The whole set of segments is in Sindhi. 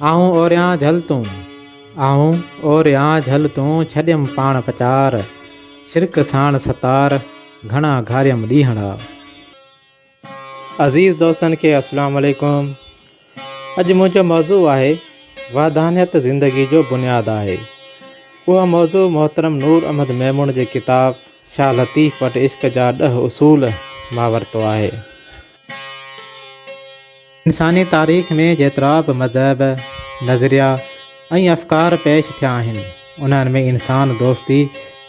آئون اوريان جهل تون، آئون اوريان جهل تون، ڇڏيم پاڻ پچار، شرڪ ساڻ ستار، گهڻا گهاريم ڏينهڙا. عزيز دوستن کي السلام عليڪم اڄ منهنجو موضوع آهي وحدانيت زندگي جو بنياد آهي اهو موضوع محترم نور احمد ميمڻ جي ڪتاب شاهه لطيف وٽ عشق جا ڏهه اصول مان ورتو آهي انساني تاريخ ۾ جيترا به مذهب، نظريا ۽ افڪار پيش ٿيا آهن، انهن ۾ انسان دوستي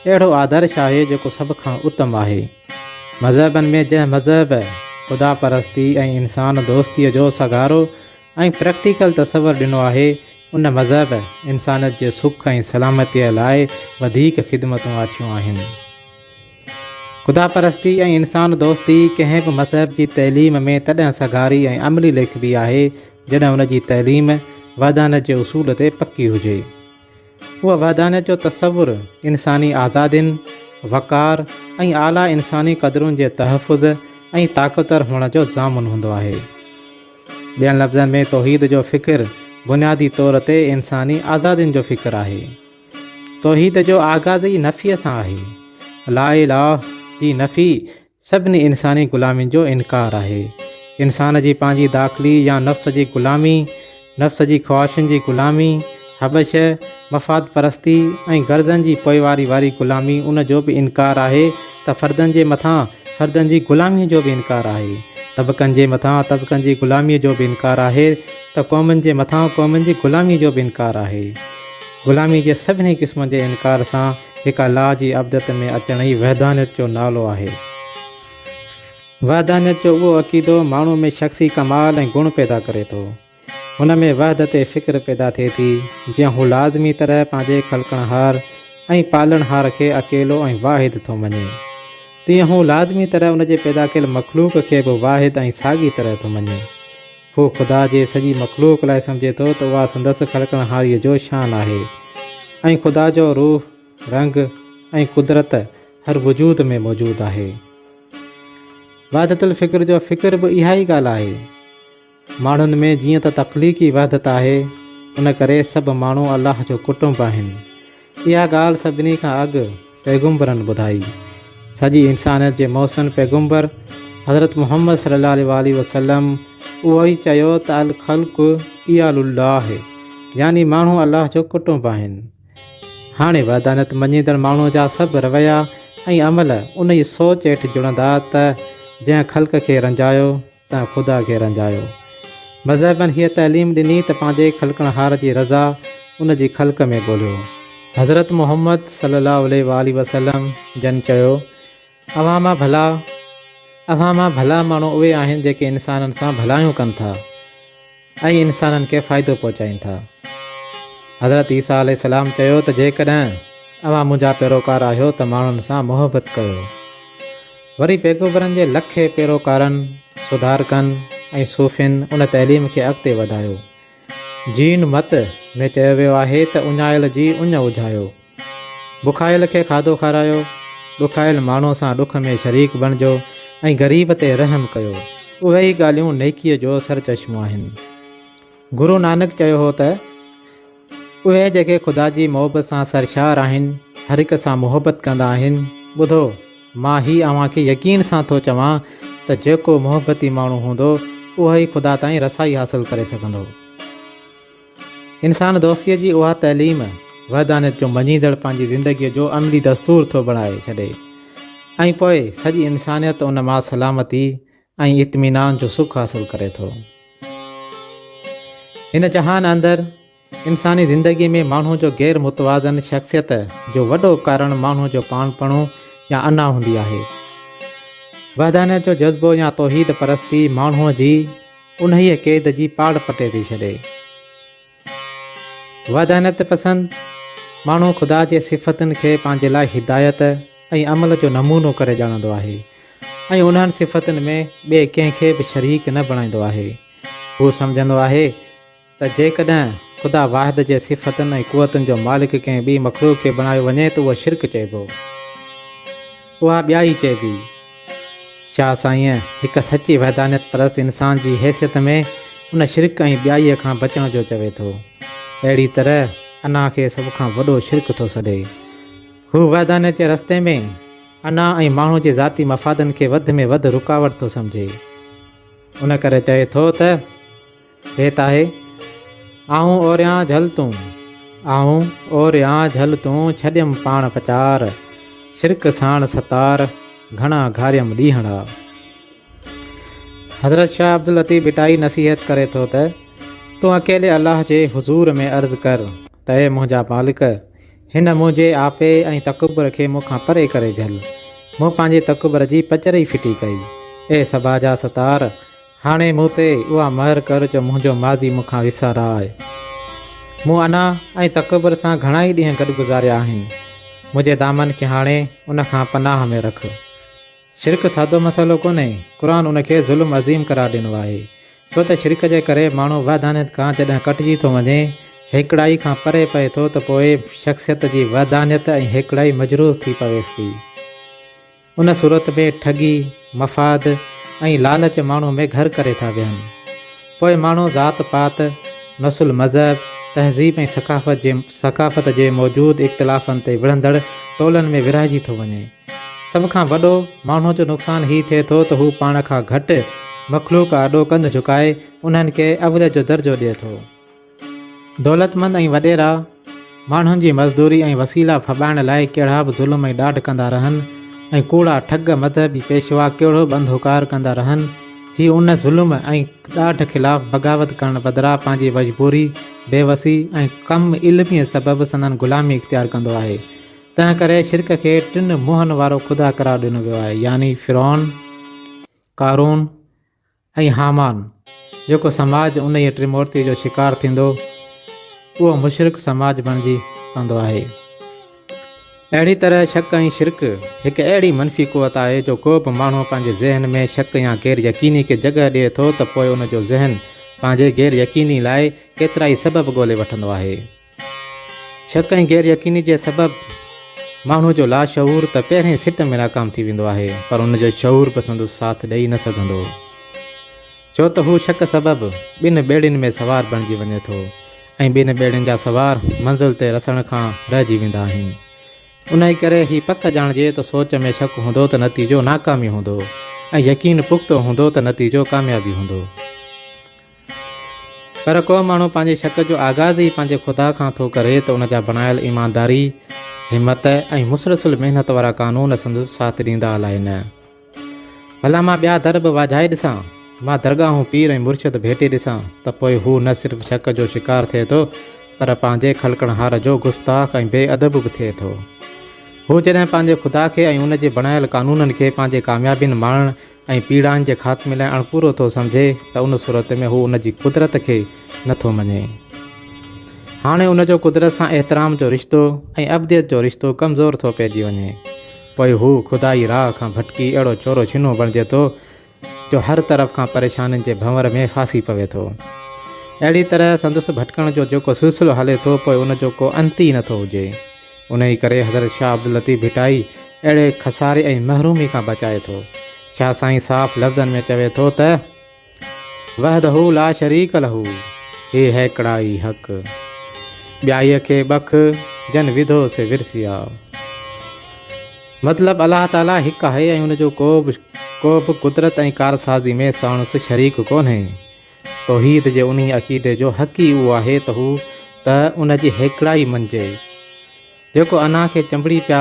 اهڙو آدرش آهي جيڪو سڀ کان اتم آهي. مذهبن ۾ جنهن مذهب خدا پرستي ۽ انسان دوستي جو سگهارو ۽ پريڪٽيڪل تصور ڏنو آهي، ان مذهب انسانيت جي سک ۽ سلامتيء لاء وڌيڪ خدمتون آڇيون آهن. خدا پرستي ۽ انسان دوستي ڪنهن به مذهب جي تعليم ۾ تڏهن سگهاري ۽ عملي ليکبي آهي، جڏهن ان جي تعليم وحدانيت جي اصول تي پڪي هجي. اهو وحدانيت جو تصور انساني آزادين، وقار ۽ اعليٰ انساني قدرن جي تحفظ ۽ طاقتور هئڻ جو ضامن هوندو آهي. ٻين لفظن ۾ توحيد جو فڪر بنيادي طور تي انساني آزادين جو فڪر آهي. توحيد جو آغاز ئي نفيء سان آهي. لا اله جي نفي سڀني انساني غلامين جو انڪار آهي. انسان جي پنهنجي داخلي يا نفس جي غلامي، نفس جي خواهشن جي غلامي، حبشه، مفاد پرستي ۽ غرضن جي پوئواري واري غلامي ان جو به انڪار آهي ته فردن جي مٿان فردن جي غلاميء جو به انڪار آهي. طبقن جي مٿان طبقن جي غلاميء جو به انڪار آهي ته قومن جي مٿان قومن جي غلاميء جو به انڪار آهي. غلامي جي سڀني قسمن جي انڪار سان هڪ الا جي عبدت ۾ اچڻ ئي وحدانيت جو نالو آهي. وحدانيت جو اهو عقيدو ماڻهو ۾ شخصي ڪمال ۽ گڻ پيدا ڪري ٿو. هن ۾ وحدت فڪر پيدا ٿئي ٿي، جيئن هو لازمي طرح پنهنجي خلقڻهار ۽ پالڻهار کي اڪيلو ۽ واحد ٿو مڃي، تيئن هو لازمي طرح ان جي پيدا ڪيل مخلوق کي به واحد ۽ ساڳي طرح ٿو مڃي. هو خدا جي سڄي مخلوق لاء سمجهي ٿو ته اها سندس خلقڻهاريء جو شان آهي ۽ خدا جو روح، رنگ ۽ قدرت هر وجود ۾ موجود آهي. وحدت الفڪر جو فڪر به اها ئي ڳالهه آهي. ماڻهن ۾ جيئن ته تخليقي وحدت آهي، ان ڪري سڀ ماڻهو الله جو ڪٽنب آهن. اها ڳالهه سڀني کان اڳ پيغمبرن ٻڌائي. سڄي انسانيت جي محسن پيغمبر حضرت محمد صلي الله عليه واٰله وسلم اهو ئي چيو ته الخلق عيال الله يعني ماڻهو الله جو ڪٽنب آهن. هاڻي وحدانيت مڃيندڙ ماڻهو جا سڀ رويا ۽ عمل انهيء سوچ هيٺ جڙندا ته جنهن خلق کي رنجايو، ته خدا کي رنجايو. مذهبن هيء تعليم ڏني ته پنهنجي خلقڻهار جي رضا ان جي خلق ۾ ڳوليو. حضرت محمد صلّي اللّٰه عليه واٰله وسلّم جن چيو، اوهان مان ڀلا، اوهان مان ڀلا ماڻهو اهي آهن جيڪي انسانن سان ڀلايون ڪن ٿا. ۽ انسانن کي فائدو پهچائين ٿا. حضرت عيسيٰ عليه السلام چيو ته جيڪڏهن اوهان منهنجا پيروڪار آهيو ته ماڻهن سان محبت ڪيو. وري پيغمبرن جي لکين پيروڪارن، سڌارڪن ۽ صوفين ان تعليم کي اڳتي وڌايو. جين مت ۾ چيو ويو آهي ته اڃايل جي اڃ اجهايو. بکايل کي کاڌو کارايو، ڏکايل ماڻهوء سان ڏک ۾ شريڪ بڻجو ۽ غريب تي رحم ڪيو، اهي ئي ڳالهيون نيڪيء جو سرچشمو آهن. گرو نانڪ چيو هو ته، اهي جيڪي خدا جي محبت سان سرشار آهن، هر هڪ سان محبت ڪندا آهن. ٻڌو، مان هي اوهان کي يقين سان ٿو چوان ته جيڪو محبتي ماڻهو هوندو، اهو ئي خدا تائين رسائي حاصل ڪري سگهندو. انسان دوستيء جي اها تعليم وحدانيت جو مڃيندڙ پنهنجي زندگيء جو عملي دستور ٿو بڻائي ڇڏي ۽ پوء سڄي انسانيت ان مان سلامتي ۽ اطمينان جو سک حاصل ڪري ٿو. هن جهان اندر انساني زندگيء ۾ ماڻهوء جو غير متوازن شخصيت جو وڏو ڪارڻ ماڻهوء جو پاڻپڻو يا انا هوندي آهي. وحدانيت جو جذبو يا توحيد پرستي ماڻهوء جي انهيء قيد جي پاڙ پٽي ٿي ڇڏي. وحدانيت پسند ماڻهو خدا جي صفتن کي پنهنجي لاء هدايت ۽ عمل جو نمونو ڪري ڄاڻندو آهي ۽ انهن صفتن ۾ ٻئي ڪنهن کي به شريڪ نه بڻائيندو آهي. هو سمجهندو آهي. ته جيڪڏهن خدا واحد جي صفتن ۽ قوتن جو مالڪ ڪنهن ٻي مخلوق کي بڻايو وڃي ته اهو شرڪ چئبو. اها ٻيائي چئبي. شاهه سائينء هڪ سچي وحدانيت پرست انسان جي حيثيت ۾ ان شرڪ ۽ ٻيائيء کان بچڻ جو چوي ٿو. اهڙي طرح انا کي سڀ کان وڏو شرڪ ٿو سڏي. هو وحدانيت جي رستي ۾ انا ۽ ماڻهو جي ذاتي مفادن کي وڌ ۾ وڌ رڪاوٽ ٿو سمجهي. ان ڪري چوي ٿو ته. هيت آهي، آئون اوريان جهل تون. آئون اوريان جهل تون، ڇڏيم پاڻ پچار. شرڪ ساڻ ستار، گهڻا گهاريم ڏينهڙا. حضرت شاهه عبداللطيف ڀٽائي نصيحت ڪري ٿو ته، تون اڪيلي الله جي حضور ۾ عرض ڪر ته اي منهنجا مالڪ! هن منهنجي آپي ۽ تڪبر کي مون کان پري ڪري جهل. مون پنهنجي تڪبر جي پچر ئي ڦٽي ڪئي. اي صبا جا ستار! هاڻي مون تي اها مهر ڪر جو منهنجو ماضي مون کان وسارئي. مون انا ۽ تڪبر سان گهڻا ئي ڏينهن گڏ گذاريا آهن. منهنجي دامن کي هاڻي ان کان پناهه ۾ رک. شرڪ سادو مسئلو ڪونهي، قرآن ان کي ظلم عظيم قرار ڏنو آهي، ڇو ته شرڪ جي ڪري ماڻهو وحدانيت کان جڏهن ڪٽجي ٿو وڃي، هيڪڙائي کان پري پئي ٿو ته پوء شخصيت جي وحدانيت ۽ هيڪڙائي مجروح ٿي پويس ٿي. ان صورت ۾ ٺڳي، مفاد ۽ لالچ ماڻهو ۾ گهر ڪري ٿا ويهن. پوء ماڻهو ذات پات، نسل مذهب، تهذيب ۽ ثقافت جي ثقافت جي موجود اختلافن تي وڙهندڙ ٽولن ۾ ورهائجي ٿو وڃي. سڀ کان وڏو ماڻهوء جو نقصان هي ٿئي ٿو ته هو پاڻ کان گهٽ مخلوق آڏو ڪنڌ جهڪائي انهن کي اوليت جو درجو ڏئي ٿو. دولتمند ۽ وڏيرا ماڻهن جي مزدوري ۽ وسيلا ڦٻائڻ لاء ڪهڙا به ظلم ۽ ڏاڍ ڪندا رهن ۽ ڪوڙا ٺڳ مذهبي پيشوا ڪهڙو به انڌو ڪار ڪندا رهن، هي ان ظلم ۽ ڏاڍ خلاف بغاوت ڪرڻ بدران پنهنجي وجبوري، بيوسي ۽ ڪم علميء سبب سندن غلامي اختيار ڪندو آهي. تنهن ڪري شرڪ کي ٽن منهن وارو خدا قرار ڏنو ويو آهي يعني فرعون، قارون ۽ هامان جيڪو سماج انهيء ٽرمورتيء جو شڪار ٿيندو اهو مشرڪ سماج بڻجي پوندو آهي. اهڙي طرح شڪ ۽ شرڪ هڪ اهڙي منفي قوت آهي جو ڪو به ماڻهو پنهنجي ذهن ۾ شڪ يا غير يقيني کي جڳهه ڏئي ٿو ته پوء ان جو ذهن پنهنجي غير يقيني لاء ڪيترائي سبب ڳولي وٺندو آهي. شڪ ۽ غير يقيني جي سبب ماڻهو جو لاشعور ته پهرين سٽ ۾ ناڪام ٿي ويندو آهي پر ان جو شعور به سندس ساٿ ڏئي نه سگهندو ڇو ته هو شڪ سبب ٻن ٻيڙين ۾ سوار بڻجي وڃي ٿو ۽ ٻن ٻيڙين جا سوار منزل تي رسڻ کان رهجي ويندا آهن انهي ڪري هي پڪ ڄاڻجي ته سوچ ۾ شڪ هوندو ته نتيجو ناڪامي هوندو ۽ يقين پختو هوندو ته نتيجو ڪاميابي هوندو. پر ڪو ماڻهو پنهنجي شڪ جو آغاز ئي پنهنجي خدا کان ٿو ڪري ته ان جا بڻايل ايمانداري، همت ۽ مسلسل محنت وارا قانون سندس ساٿ ڏيندا الائي نه. ڀلا مان ٻيا در به واجهائي ڏسان، مان درگاهون، پير ۽ مرشد ڀيٽي ڏسان ته پوء هو نه صرف شڪ جو شڪار ٿئي ٿو پر پنهنجي خلقڻهار جو گستاخ ۽ بي ادب به ٿئي ٿو. هو جڏهن پنهنجي خدا کي ۽ ان جي بڻايل قانونن کي پنهنجي ڪاميابين ماڻڻ، ۽ پيڙائن جي خاتمي لاء اڻپورو ٿو سمجهي ته ان صورت ۾ هو ان جي قدرت کي نٿو مڃي. هاڻي ان جو قدرت سان احترام جو رشتو ۽ ابديت جو رشتو ڪمزور ٿو پئجي وڃي. پوء هو خدائي راهه کان ڀٽڪي اهڙو چورو ڇنو بڻجي ٿو جو هر طرف کان پريشانين جي ڀنور ۾ ڦاسي پوي ٿو. اهڙي طرح سندس ڀٽڪڻ جو جيڪو سلسلو هلي ٿو پوء ان جو ڪو انت ئي نٿو هجي. انهيء ڪري حضرت شاهه عبداللطيف ڀٽائي اهڙي خساري ۽ محرومي کان بچائي ٿو. شاهه سائين صاف لفظن ۾ چوي ٿو ته، وحده لا شريڪ له، هي هيڪڙائي حق، ٻيائيء کي ٻک، جن وڌو سي ورسيا. مطلب الله تعاليٰ هڪ آهي ۽ ان جو ڪوبه ڪوبه قدرت ۽ ڪارسازي ۾ ساڻس شريڪ ڪونهي. توحيد جي انهيء عقيدي جو حق ئي اهو آهي ته هو ته ان جي هيڪڙائي مڃجي، جيڪو انا کي چنبڙي پيا،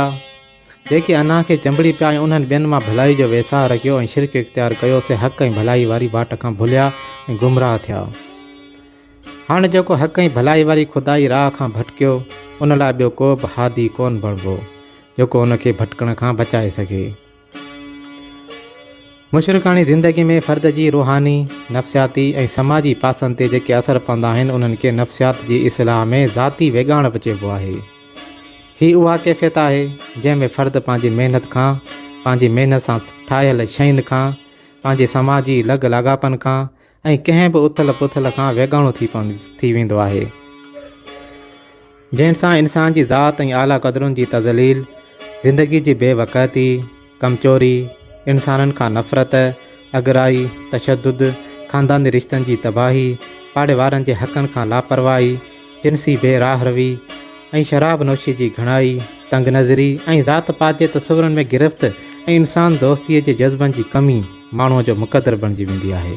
جيڪي انا کي چنبڙي پيا ۽ انهن ٻين مان ڀلائي جو ويساهه رکيو ۽ شرڪ اختيار ڪيو، سي حق ۽ ڀلائي واري واٽ کان ڀليا ۽ گمراهه ٿيا. هاڻ جيڪو حق ۽ ڀلائي واري خدائي راهه کان ڀٽڪيو، ان لاء ٻيو ڪوبه هادي ڪونه بڻبو، جيڪو ان کي ڀٽڪڻ کان بچائي سگهي. مشرڪاڻي زندگي ۾ فرد جي روحاني، نفسياتي ۽ سماجي پاسن تي جيڪي اثر پوندا آهن، انهن کي نفسيات جي اصطلاح ۾ ذاتي ويڳاڻپ چئبو آهي. هي اها ڪيفيت آهي، جنهن ۾ فرد پنهنجي محنت کان، پنهنجي محنت سان ٺاهيل شين کان، پنهنجي سماجي لڳ لاڳاپن کان، ۽ ڪنهن به اٿل پٿل کان ويڳاڻو ٿي ويندو آهي، جنهن سان انسان جي ذات ۽ اعليٰ قدرن جي تذليل، زندگي جي بي وقعتي، ڪمچوري، انسانن کان نفرت، اڳرائي، تشدد، خانداني رشتن جي تباهي، پاڙيوارن جي حقن کان لاپرواهي، جنسي بي راهه روي ۽ شراب نوشي جي گهڻائي، تنگ نظري ۽ ذات پات جي تصورن ۾ گرفت ۽ انسان دوستيء جي جذبن جي ڪمي ماڻهوء جو مقدر بڻجي ويندي آهي.